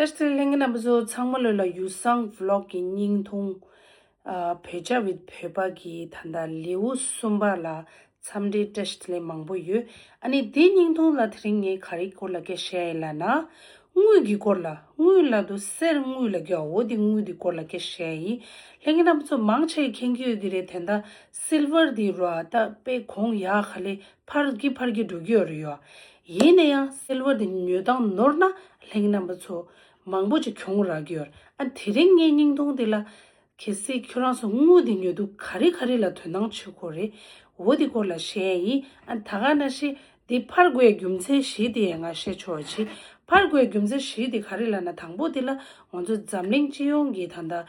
བཀྲ་ཤིས་ལྷན་གྱི་རྣམ་པ་ཚོ་ཚང་མ་ལོས་ལ་ཡུ་སངས Vlog གི་སྙིང་ཐུང། བོད་ཆ་བིད་བོད་པ་གི་ད་ལྟ་ལེའུ་གསུམ་པ་ལ་འཚམས་འདྲི་བཀྲ་ཤིས་ལན་མང་པོ་ཡོད། ཨ་ནི་དེའི་སྙིང་ཐུང་ལ་དེ་རིང་ངས་ག་རེའི་སྐོར་ལ་སྐད་བཤད་ཡིན་ལ་ན། དངུལ་གི་སྐོར་ལ་དངུལ་ལ་དུ་གསེར་དངུལ་ལ་གོ་འོ་དེ་དངུལ་དེ་སྐོར་ལ་སྐད་བཤད་ཡིན། ལྷན་གྱི་རྣམ་པ་ཚོ་མང་ཆེ་མཁྱེན་གྱི་ཡོད་ཀྱི་རེད་དེ་ད Silver དེ་རོ་ཨ་ད་དཔེ་གོང་ཡག་ག་ལེ་ཕར་གྱི་ཕར་གྱི་འགྲོ་གྱི་ཡོད་རེད་ཡོད་ཨ། ཡིན་ན་ཡང་སེལ་བ་འདི་ཉོས་དང་ནོར་ན་ལྷིང་རྣམ་པ་ཚོ་མང་པོ་ཅིག་གྱོང་རག་གི་ཡོད་ཨ་དེ་རིང་ངས་སྙིང་སྟོང་འདི་ལ། གལ་སྲིད་ཁྱོད་རང་ཚོ་དངུལ་འདི་ཉོས་འདུག་ག་རེ་ག་རེ་ལ་དོན་དང་ཆོད་ཁོ་རེ་འོ་དེ་སྐོར་ལ་བཤད་ཡིན་ཨ་ད་ག་ན་ཤེས་འདི་ཕར་རྒོལ་རྒྱུ་མཚན་བཞི་དེ་ཡང་ང་བཤད་ཆོག་ཨ་ཅི་ཕར་རྒོལ་རྒྱུ་མཚན་བཞི་དེ་ག་རེ་ལ་ན་དང་པོ་དེ་ལ་ང་ཚོ་འཛམ་གླིང་སྤྱི་ཡོངས་ཀྱི་ད་ལྟ།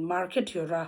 Market། ཡོད་ར་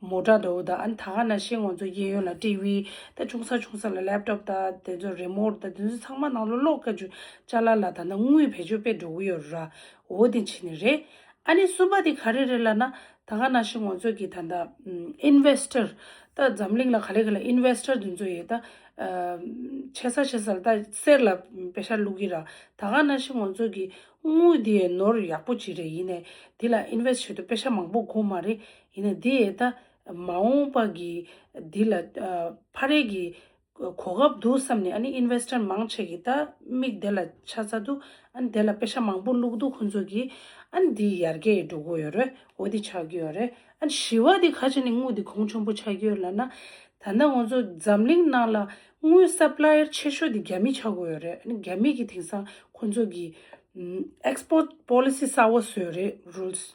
མོ་དྲག་འདོད་དང་ཨ་ད་ག་ན་ཤེས་ངོ་ཚོ་རྒྱལ་ཡོངས་ལ་སྤྲེལ་བྷི་དང་ཆུང་ས་ཆུང་ས་ལ་ལེབ་ཏོབ་དང་དེ་ཚོ་རེ་མོར་དང་དེ་ཚོ་ཚང་མ་ནང་ལོ་ཀློག་དཀའ་ཆུ་ལྕགས་ལ་ལ་ད་ནང་དངུལ་བེད་སྤྱོད་པས་འགྲོ་གི་ཡོད་ར་འོ་དེ་ཕྱི་ནས་རེད་ཨ་ནི་གསུམ་པ་དེ་ག་རེ་རེད་ལ་ན་ད་ག་ན་ཤེས་ངོ་ཚོས་ཀྱི་ད་ད Investor ད་འཛམ་གླིང་ལ་ག་ལེ་ག་ལེ Investor དེ་ཚོ་ཡོད་ད་ཆེ་ས་ཆེ་ས་ལ་ད་གསེར་ལ་བེ་ཤ་བླུག་གི་ར་ད་ག་ན་ཤེས་ངོ་ཚོས་ཀྱི་དངུལ་དེ་ནོར་ཡག་པོ་བྱེད་རེ་ཡིན་ནས་དེ་ལ Invest བྱེད་དུ་བེ་ཤ་མང་པོ་དགོས་མ་རེད་ཡིན་ན་དེ་ད་མ་འོངས་པ་གི་འདི་ལ་ཕ་རེས་ཀྱི་གོ་སྐབས་འདུག་བསམ་ནས་ཨ་ནི Investor མང་ཆེ་གི་ད་མིག་དེ་ལ་ཆ་ཚ་འདུག་ཨ་ནི་དེ་ལ་དཔེ་ཆ་མང་པོ་བླུགས་འདུག་ཁོང་ཚོ་གི་ཨ་ནི་འདི་ཡར་རྒྱས་འགྲོ་གི་ཡོད་རེད་འོ་འདི་ཆགས་ཀྱི་ཡོད་རེད་ཨ་ནི་ཞི་བ་དེ་ཁ་ཆེ་ནས་དངུལ་དེ་གོང་ཆེན་པོ་ཆགས་ཀྱི་ཡོད་ལ་ན་ད་ནངས་ཁོང་ཚོ་འཛམ་གླིང་ནང་ལ་དངུལ Supplier ཆེ་ཤོས་དེ་རྒྱ་མི་ཆགས་གི་ཡོད་རེད་ཨ་ནི་རྒྱ་མི་གི་དེང་སང་ཁོང་ཚོ་གི Export Policy གསར་བ་བཟོས་རེད Rules།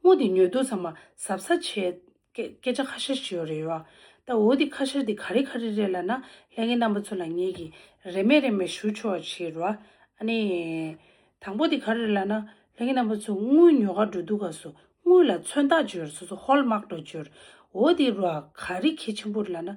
སྔོ་འདི་ཉོས་འདུག་ཚང་མ་གཟབ་གཟབ་བྱས། སྐད་ཆ་ཁ་ཤར་བྱེད་ཡོད་རེད་ཡོད། ད་འོ་འདི་ཁ་ཤར་འདི་ག་རེ་ག་རེ་རེད་ལ་ན་ལྷན་གྱི་རྣམ་པ་ཚོ་ལ་ངེད་ཀྱིས་རེ་མེད་རེ་མེད་ཞུ་ཆོག་བྱེད་རོགས་ཨ། ཨ་ནི། དང་པོ་འདི་ག་རེ་རེད་ལ་ན་ལྷན་གྱི་རྣམ་པ་ཚོ་དངུལ་ཉོ་ག་འགྲོ་འདུག་ག་སོ་དངུལ་ལ་མཚོན་རྟགས་བྱོས་སོ་སོ་ཧོལ་དམག་འགྲོ་བྱོས། འོ་འདི་རོགས་ག་རེ་ཁྱི་ཆེན་པོ་རེད་ལ་ན་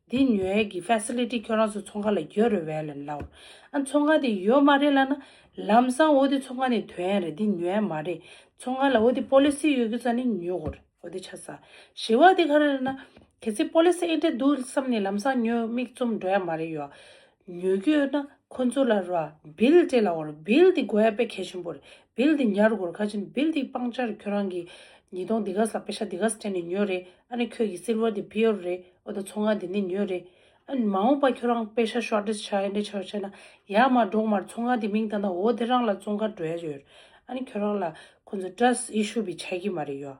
འདི་ཉོ་ཡས་ཀྱི Facility ཁྱོད་རང་ཚོ་ཚོང་ཁང་ལ་ཡོད་རེད་བས་ལན་ལ་འོར། ཨ་ཚོང་ཁང་དེ་ཡོད་མ་རེད་ལ་ན། ལམ་སང་འོ་དེ་ཚོང་ཁང་ནས་དོན་ཡས་རེད་འདི་ཉོ་ཡས་མ་རེད། ཚོང་ཁང་ལ་འོ་དེ Policy ཡོད་གི་ས་ནས་ཉོ་གོ་རེད་འོ་དེ་ཆ་ས། ཞེས་བ་དེ་ག་རེད་ལ་ན། གལ་སྲིད Policy ཨེ་འདྲ་འདུག་བསམ་ནས་ལམ་སང་ཉོ་དམིགས་རྩོམ་འགྲོ་ཡས་མ་རེད་ཡོད། ཉོ་རྒྱུ་ཡོད་ན་ཁོ་ཚོ་ལ་རོགས་བིལ་ཏེ་ལ་འོར་བིལ་ཏེ་དགོས་ཡ་པེ་གལ་ཆེན་པོ་རེད་བིལ་ཏེ་ཉར་དགོས་རེད་ཁ་ཆེམས་བིལ་ཏེ་སྤང་བྱ་རེད་ཁྱོད་རང་གིས་ཉིས་སྟོང་དེ་ག་ཟ་པེ་ཤ་དེ་ག་སྤྲད་ནས་ཉོས་རེད་ཨ་ནི་ཁྱོད་ཀྱིས་སིལ་བར་དེ་བིལ་རེད་ཨོ་ད་ཚོང་ཁང་དེ་ནས་ཉོས་རེད་ཨ་ནི་མ་འོངས་པ་ཁྱོད་རང་པེ་ཤ་ཤོར་ཏེ་ཆག་ཡ་འདྲེ་ཆག་ཡ་ཆག་ན་ཡ་མ་འབྲོག་མར་ཚོང་ཁང་དེ་མིང་བཏགས་ན་འོ་དེ་རང་ལ་ཙོང་ཁ་འགྲོ་ཡ་ཡོད་རེད་ཨ་ནི་ཁྱོད་རང་ལ་ཁོ་ཚོ་ཏྲ་སི་ཨི་ཤུ་བི་ཆག་གི་མ་རེད་ཡོད།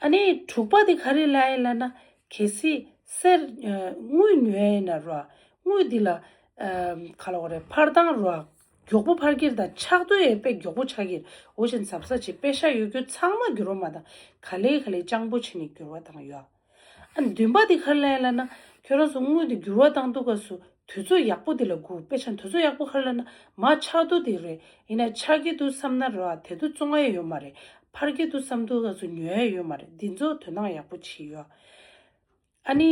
ཨ་ནི་དྲུག་པ་དེ་ག་རེ་ལ་ཡིན་ལ་ན་གལ་སྲིད་གསེར་དངུལ་ཉོ་ཡ་ཡིན་ན་རོ་དངུལ་དེ་ལ་ག་ལ་འོ་རེད་ཕར་དང་རོ་མགྱོགས་པོ་ཕར་ཁྱེར་དང་ཆགས་དོན་ཡས་དཔེ་མགྱོགས་པོ་ཆགས་ཁྱེར་འོ་ཞིང་ཟབ་ས་བྱེད་དཔེ་ཤ་ཡོད་རྒྱུ་ཚང་མ་འགྱུར་བ་མ་དང་ག་ལེ་ག་ལེ་སྤྱང་པོ་བྱེད་ནས་འགྱུར་བ་དང་ཡོ། ཨ་ནི་འདུན་པ་འདི་གར་ལན་བླ་ན། ཁྱོད་རང་ཚོ་སྔོན་དུ་འགྱུར་བ་བཏང་འདུག་ག་སུ་དུས་ཚོད་ཡག་པོ་འདི་ལ་སྒུག་དཔེ་ཆ་འདུ་ཚོད་ཡག་པོ་གར་བླ་ན་མ་ཆགས་འདུག་འདི་རེད་ཡིན་ན་ཆགས་ཀྱི་འདུག་བསམ་ན་རེད་དེ་འདུག་བཙོང་ཨེ་ཡོད་མ་རེད་འཕར་གྱི་འདུག་བསམ་འདུག་ག་སུ་ཉོ་ཨེ་ཡོད་མ་རེད་འདི་ཚོ་དོན་དག་ཡག་པོ་བྱེད་ཡོད་ཨ་ནི།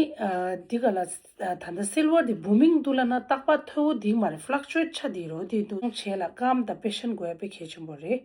འདི་ག་ལ་ད་ལྟ་སིལ་བར་འདི Booming འདུག་བླ་ན་རྟག་པ་མཐོ་བོ་འདིག་མ་རེད Fluctuate ཆ་འདི་རོ་འདི་འདུག་བྱས་ལ་སྐམ་དང་དཔེ་ཤན་དགོས་དཔེ་གལ་ཆེན་པོ་རེད།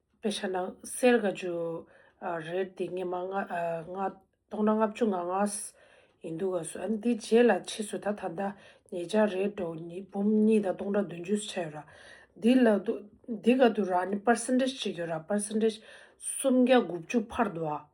དཔེ་ཆ་ནང་གསལ་དགའ་རྒྱུ་རེད་དེ་སྙེ་མ་སྟོང་ན་ལྔ་བཅུ་ང་ལྔ་ཡིན་འདུག་ག་སོ་འདི་རྗེས་ལ་ཕྱིས་སུ་ད་ད་ལྟ་ངེད་ཅག་རེས་འགྲོ་ཉིས་འབུམ་གཉིས་དང་སྟོང་དང་བདུན་ཅུ་སུ་ཆ་ཡོད་ར་འདི་ལ་འདི་ག་དུ་ར་ནི་པར་སེན་ཏེཇ་གཅིག་ཡོད་ར་པར་སེན་ཏེཇ་སུམ་བརྒྱ་དགུ་བཅུ་འཕར་འདུག་ཨ།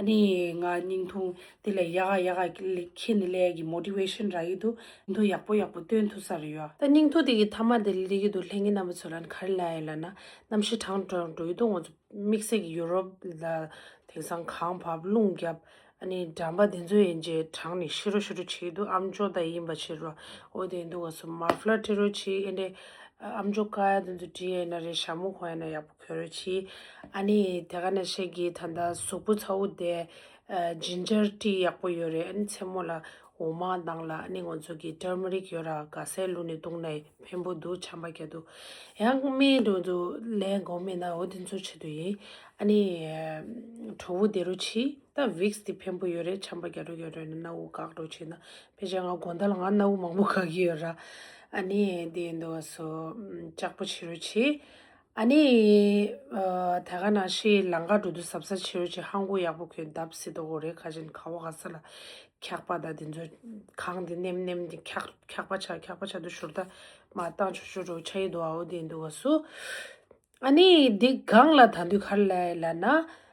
ནི་ང་སྙིང་ཐུང་དེ་ལས་ཡག་ཡག་ཡག་ཁྱེད་ནི་ལས་ཀྱི motivation རག་ཡི་འདུག་སྙིང་ཐུང་ཡག་པོ་ཡག་པོ་སྟོན་ཐུབ་ས་རེད་ཡོད་ད་སྙིང་ཐུང་དེ་གི་མཐའ་མ་དེ་ལས་ཀྱི་འདུག་ལྷན་གྱི་རྣམ་པ་ཚོ་ལ་ནི་ག་རེ་ལ་ཡོད་ལ་ན་རྣམ་ཤེས་དྲང་དྲང་འགྲོ་ཡི་འདུག་ང་ཚོ་དམིགས་བསལ་གྱི Europe ལ་དེང་སང་གངས་བབས་རླུང་རྒྱབ་ནི་འགྲམ་པ་དེ་ཚོ་ཡིན་རྗེས་དྲང་ནི་ཤི་རོ་ཤི་རོ་བྱེད་ཡི་འདུག་ཨམ་ཅོག་དང་ཡིན་པ་བྱེད་རོ་འོ་དེ་འདུག་ང་ཚོ་མར་ཕླ་ཏི་རོ་བྱེད་ཨེ་འདྲས་ཨམ་ཅོག་ཀ་ཡ་དེ་ཚོ་བྲིས་ཡས་ན་རེད་ཞྭ་མོ་གོན་ཡས་ན་ཡག་པོ། ཁྱོད་རེ་ཆི། ཨ་ནི་དེ་ག་ནས་བཤད་ཀྱི་ད་ལྟ་གཟུགས་པོ་ཚ་བོ་དེ། Ginger Tea ཡག་པོ་ཡོད་རེད་ཨ་ནི་མཚན་མོ་ལ་འོ་མ་བཏང་ལ་ཨ་ནི་ང་ཚོ་གི Turmeric ཡོད་ར་ག་སའི་ལུག་ནས་བཏུང་ནས་ཕན་པོ་འདུག་ཆམ་པ་རྒྱག་དུ། ཡང་སྨན་དུ་འདུག་ལན་དགོ་མེད་ན་འོ་དེ་ཚོ་བྱེད་དུ་ཡིན། ཨ་ནི་གྲོ་བོ་དེ་རུ་ཆི། ད Vicks དེ་ཕན་པོ་ཡོད་རེད་ཆམ་པ་རྒྱག་དུ་ཡོད་རེད་ན་གནའ་བོ་གག་དྲོ་བྱེད་ན་ཕལ་ཆེར་ང་དགོན་ཟླ་ལ་ང་གནའ་བོ་མང་པོ་གག་གི་ཡོད་ར་ཨ་ནི་དེ་འདུག་བ་སོ་ལྕགས་པོ་བྱེད་རུ་ཆི། ཨ་ནེ། ད་ག་ན་ཤི་ལང་ཀ་འགྲོ་དུས་ཟབ་ས་ཆེ་རུ་ཆེ་ཧང་གོ་ཡག་པོ་ཁོས་གདབ་སྲིད་དོ་གོ་རེ་ཁ་ཆེན་ཁ་བོ་ག་ས་ལ་འཁྱག་པ་ད་དེ་ཚོ་གང་དེ་ནེམ་ནེམ་དེ་འཁྱག་འཁྱག་པ་ཆག་འཁྱག་པ་ཆག་དུ་ཤོར་ད་མ་བཏང་ཆོག་ཆོག་འགྲོ་ཆ་ཡི་དོ་ཨ་བོ་དེ་འདུག་ག་སུ། ཨ་ནེ། དེ་གང་ལ་ད་འདུས་གར་ལ་ལ་ན།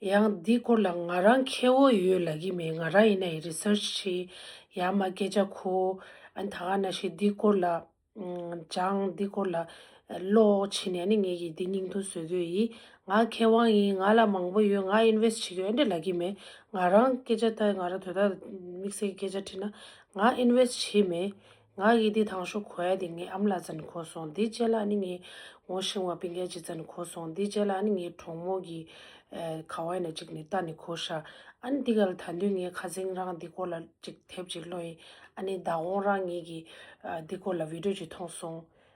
ཡང་འདི་སྐོར་ལ་ང་རང་ཁེ་བོ་ཡོད་ལ་གི་མེད་ང་རང་ཡིན་ན་ཡི research བྱེད་ཡག་མ་སྐད་ཆ་གོ་ཨ་ད་ག་ན་ཤི་འདི་སྐོར་ལ་སྦྱངས་འདི་སྐོར་ལ་ཀློག་བྱེད་ནས་ཨ་ནི་ངེད་ཀྱི་འདི་སྙིང་དོན་བཟོ་གོས་ཡིན་ང་ཁེ་དབང་ཡིན་ང་ལ་མང་པོ་ཡོད་ང invest བྱེད་གོས་ཨ་འདྲ་ལ་གི་མེད་ང་རང་སྐད་ཆ་ད་ང་རང་དོ་ད་དམིགས་བསལ་གྱི་སྐད་ཆ་དྲིས་ན་ང invest བྱེད་མེད་ང་ཡི་དེ་ཐང་ཤོ་ཁོ་ཡ་དེ་ངའི་ཨམ་ལ་བཙན་ཁོ་སོང་དེ་རྗེས་ལ་ནི་ངའི་ངོ་ཤེས་བ་པི་འགལ་གྱི་བཙན་ཁོ་སོང་དེ་རྗེས་ལ་ནི་ངའི་གྲོགས་མོ་གི་ཁ་བ་ཡ་ན་ཅིག་ནི་ད་ནི་ཁོ་ཤ་ཨ་ནི་དེ་ག་ལ་ད་འདུན་ངའི་ཁ་ཟིང་རང་དེ་སྐོར་ལ་ཅིག་དེབ་ཅིག་བློ་ཡིན་ཨ་ནི་ད་འོང་རང་ངེད་ཀྱི་དེ་སྐོར་ལ་བིད་འགྲོས་ཅིག་ཐོང་སོང